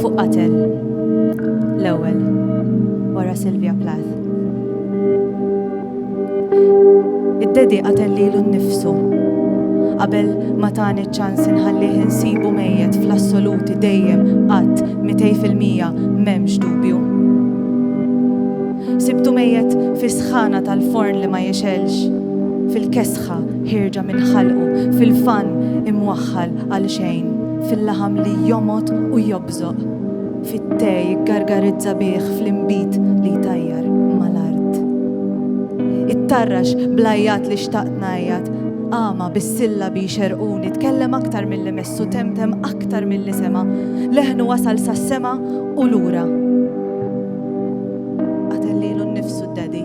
Fuq qatel. L-ewwel. Wara Sylvia Plath. Id-dedi qatel lilu nnifsu. Qabel ma tani ċans inħallih insibu mejjet fl-assoluti dejjem qatt 200% m'hemmx dubju. Sibtu mejjet fis-sħana tal-forn li ma jixelx, fil-kesħa ħierġa minn ħalqu fil-fann imwaħħal għal xejn, fil-laħam li jomgħod u jobżoq, fit-te jiggargarizza bih fl-inbid li jtajjar mal-art. Ittarrax bl-għajjat li xtaqt ngħajjat, qama bis-sillabi jxerrquni, tkellem aktar milli messu, temtem aktar milli sema, leħnu wasal sas-sema u lura. Qatel lilu nnifsu d-Daddy.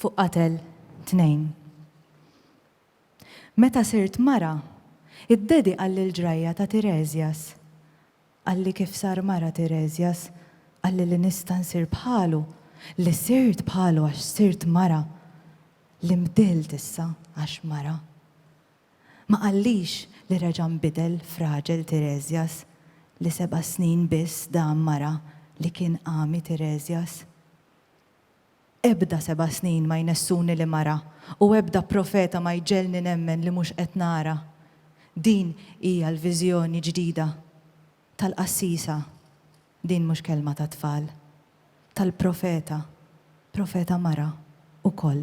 fuq qatel tnejn. Meta sirt mara, id-Dedi qal lil ġrajja ta' Tiresias, Qalli kif sar mara Tiresias, qalli li nista' nsir bħalu, li sirt bħalu għax sirt mara, li nbdilt issa għax mara. Ma qallix li reġa' nbidel f'raġel Tiresias, li seba' snin biss dam mara li kien għami Tiresias? Ebda seba' snin ma jnessuni li mara u ebda profeta ma jġegħelni nemmen li mhux qed nara. Din hija l-viżjoni ġdida tal-qassisa, din mhux kelma tat-tfal, tal-profeta, profeta mara wkoll.